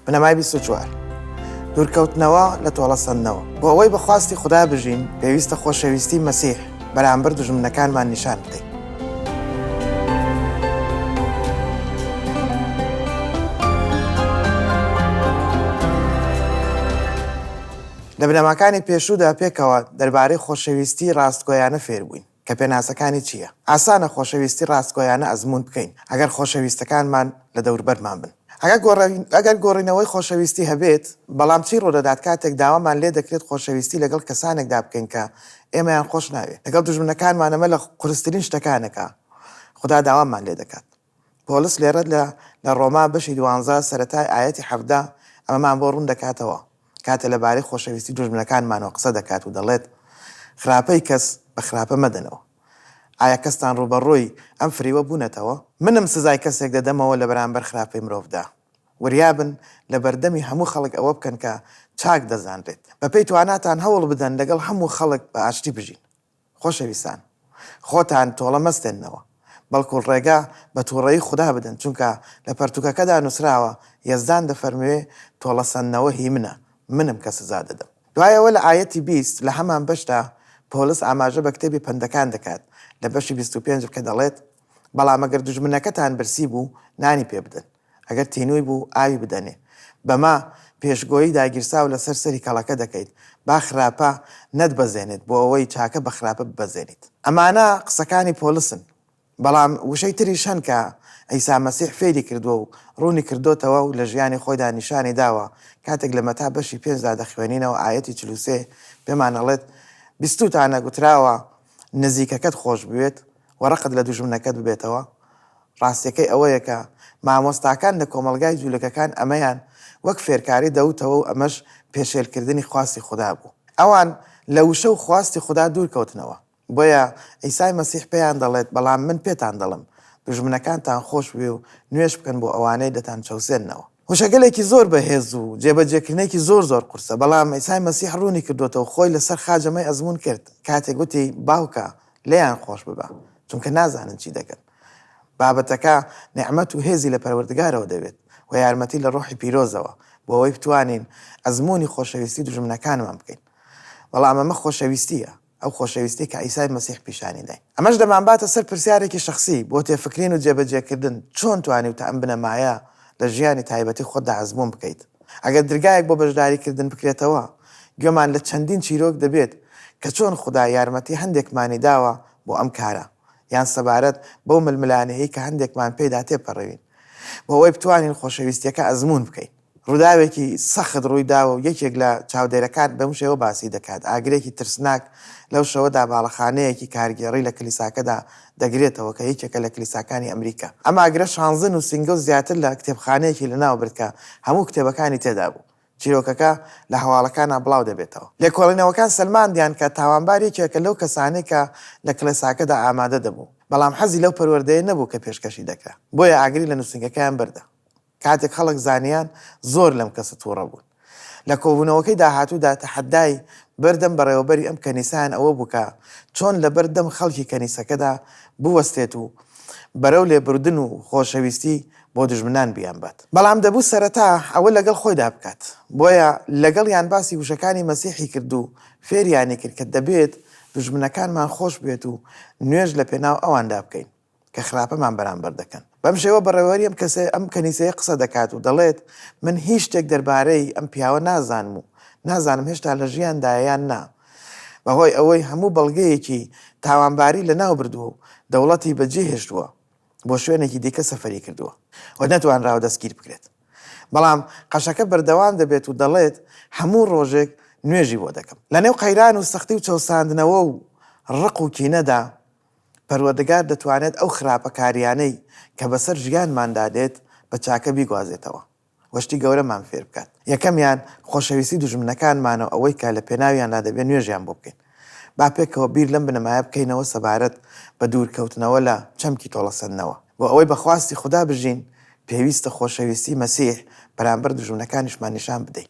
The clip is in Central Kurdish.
بنەمای بیست و چوار. دوورکەوتنەوە لە تۆڵەسەندنەوە. بۆ ئەوەی بە خواستی خودا بژین، پێویستە خۆشەویستی مەسیح بەرامبەر دوژمنەکانمان نیشان بدەین. لە بنەماکانی پێشوودا پێکەوە دەربارەی خۆشەویستی ڕاستگۆیانە فێربووین. کە پێناسەکانی چییە؟ ئاسانە خۆشەویستی ڕاستگۆیانە ئەزموون بکەین ئەگەر خۆشەویستەکانمان لە دەوربەرمان بن. ئەگەر گۆڕینەوەی خۆشەویستی هەبێت، بەڵام چی ڕوودەدات کاتێک داوامان لێ دەکرێت خۆشەویستی لەگەڵ کەسانێکدا بکەین کە ئێمەیان خۆش ناوێت؟ لەگەڵ دوژمنەکانمان ئەمە لە قورسترین شتەکانە کە خودا داوامان لێ دەکات. پۆڵس لێرەد لە لە ڕۆما بەشی دوانزە سەرەتای ئایەتی حەڤدە ئەمەمان بۆ ڕوون دەکاتەوە کاتێ لە بارەی خۆشەویستی دوژمنەکانمانەوە قسە دەکات و دەڵێت خراپەی کەس بە خراپە مەدەنەوە ئایا کەستان ڕووبەڕووی ئەم فریوە بوونەتەوە؟ منم سزای کەسێک دەدەمەوە لە بەرامبەر خراپەی مرۆڤدا وریا بن لە بەردەمی هەموو خەڵک ئەوە بکەن کە چاک دەزانرێت بە پێی تواناتان هەوڵ بدەن لەگەڵ هەموو خەڵک بە ئاشتی بژین خۆشەویستان خۆتان تۆڵە مەستێننەوە بەڵکو ڕێگا بە توڕەیی خودا بدەن چونکە لە پەرتوکەکەدا نوسراوە یەزدان دەفەرموێ تۆڵە سەندنەوە هی منە منم کە سزا دەدەم. دوای ئەوە لە ئایەتی بیست لە هەمان بەشدا پۆلس ئاماژە بە کتێبی پەندەکان دەکات لە بەشی بیست و پێنج کە دەڵێت، بەڵام ئەگەر دوژمنەکەتان برسی بوو نانی پێ بدەن، ئەگەر تینووی بوو ئاوی بدەنێ. بەمە پێشگۆیی داگیرساو لەسەر سەری کەڵەکە دەکەیت با خراپە نەتبەزێنێت بۆ ئەوەی چاکە بە خراپە ببەزێنیت. ئەمانە قسەکانی پۆلسن. بەڵام وشەی تریش هەن کە عیسا مەسیح فێری کردووە و ڕوونی کردۆتەوە و لە ژیانی خۆیدا نیشانی داوە کاتێک لە مەتا بەشی پێنجدا دەخوێنینەوە ئایەتی چل و سێ پێمان ئەڵێت بیستووتانە گوتراوە نزیکەکەت خۆش بوێت و ڕقت لە دوژمنەکەت ببێتەوە، ڕاستیەکەی ئەوەیە کە مامۆستاکان لە کۆمەڵگای جولەکەکان ئەمەیان وەک فێرکاری دەوتەوە و ئەمەش پێشێل کردنی خواستی خودا بوو. ئەوان لە وشە و خواستی خودا دوور کەوتنەوە. بۆیە عیسای مەسیح پێیان دەڵێت بەڵام من پێتان دەڵێم دوژمنەکانتان خۆش بوێ و نوێژ بکەن بۆ ئەوانەی دەتان چەوسێننەوە. وشەگەلێکی زۆر بە هێز و جێ بە جێ کردنێکی زۆر زۆر قورسە بەڵام عیسای مەسیح ڕوونی کردۆتەوە خۆی لە سەر خاجەمەی ئەزموون کرد کاتێک وتی باوکە لێیان خۆش ببە چونکە نازانن چی دەکەن. بابەتەکە نیعمەت و هێزی لە پەروەردگارەوە دەوێت و یارمەتی لە ڕۆحی پیرۆزەوە بۆ ئەوەی بتوانین ئەزموونی خۆشەویستی دوژمنەکانمان بکەین. بەڵام ئەمە خۆشەویستییە، ئەو خۆشەویستیەی کە عیسای مەسیح پیشانی داین. ئەمەش دەمانباتە سەر پرسیارێکی شەخسی بۆ تێفکرین و جێبەجێکردن، چۆن توانیوتە ئەم بنەمایە لە ژیانی تایبەتی خۆتدا ئەزموون بکەیت؟ ئەگەر درگایەک بۆ بەشداریکردن بکرێتەوە، گوێمان لە چەندین چیرۆک دەبێت کە چۆن خودا یارمەتی هەندێکمانی داوە بۆ ئەم کارە، یان سەبارەت بەو ململانێیەی کە هەندێکمان پێیدا تێپەڕیوین، بۆ ئەوەی بتوانین خۆشەویستییەکە ئەزموون بکەین. ڕووداوێکی سەخت ڕوویداوە و یەکێک لە چاودێرەکان بەم شێوە باسی دەکات، ئاگرێکی ترسناک لەو شەوەدا باڵەخانەیەکی کارگێڕی لە کلیساکەدا دەگرێتەوە کە یەکێکە لە کلیساکانی ئەمریکا. ئەم ئاگرە شانزە نووسینگە و زیاتر لە کتێبخانەیەکی لەناوبرد کە هەموو کتێبەکانی تێدا بوو. چیرۆکەکە لە هەواڵەکانا بڵاو دەبێتەوە. لێکۆڵینەوەکان سەلماندیان کە تاوانبار یەکێکە لەو کەسانەی کە لە کڵێساکەدا ئامادە دەبوو، بەڵام حەزی لەو پەروەردەیە نەبوو کە پێشکەشی دەکرا، بۆیە ئاگری لە نووسینگەکەیان بردە. کاتێک خەڵک زانیان زۆر لەم کەسە توڕە بوون لە کۆبوونەوەکەی داهاتوودا تەحەدای بەردەم بەڕێوەبەری ئەم کەنیسەیان ئەوە بوو کە چۆن لەبەر دەم خەڵکی کەنیسەکەدا بوەستێت و بەرەو لێبوردن و خۆشەویستی بۆ دوژمنان بیانبات. بەڵام دەبوو سەرەتا ئەوە لەگەڵ خۆیدا بکات، بۆیە لەگەڵیان باسی وشەکانی مەسیحی کرد و فێریانی کرد کە دەبێت دوژمنەکانمان خۆش بوێت و نوێژ لەپێناو ئەواندا بکەین. کە خراپەمان بەرامبەر دەکەن. بەم شێوە بەڕێوەبەری ئەم کەسە، ئەم کەنیسەیە قسە دەکات و دەڵێت، من هیچ شتێک دەربارەی ئەم پیاوە نازانم و نازانم هێشتا لە ژیاندایە یان نا، بەهۆی ئەوەی هەموو بەڵگەیەکی تاوانباری لەناوبردووە و دەوڵەتی بەجێهێشتووە، بۆ شوێنێکی دیکە سەفەری کردووە و نەتوانراوە دەستگیر بکرێت. بەڵام قەشەکە بەردەوام دەبێت و دەڵێت، هەموو ڕۆژێک نوێژی بۆ دەکەم. لەنێو قەیران و سەختی و چەوساندنەوە و ڕق و کینەدا، پەروەردگار دەتوانێت ئەو خراپەکارییانەی کە بەسەر ژیانماندا دێت بە چاکە بیگوازێتەوە و شتی گەورەمان فێر بکات. یەکەمیان خۆشەویستی دوژمنەکانمانە و ئەوەی کە لە پێناویاندا دەبێت نوێژیان بۆ بکەین. با پێکەوە بیر لەم بنەمایە بکەینەوە سەبارەت بە دوورکەوتنەوە لە چەمکی تۆڵەسەندنەوە. بۆ ئەوەی بە خواستی خودا بژین، پێویستە خۆشەویستی مەسیح بەرامبەر دوژمنەکانیشمان نیشان بدەین.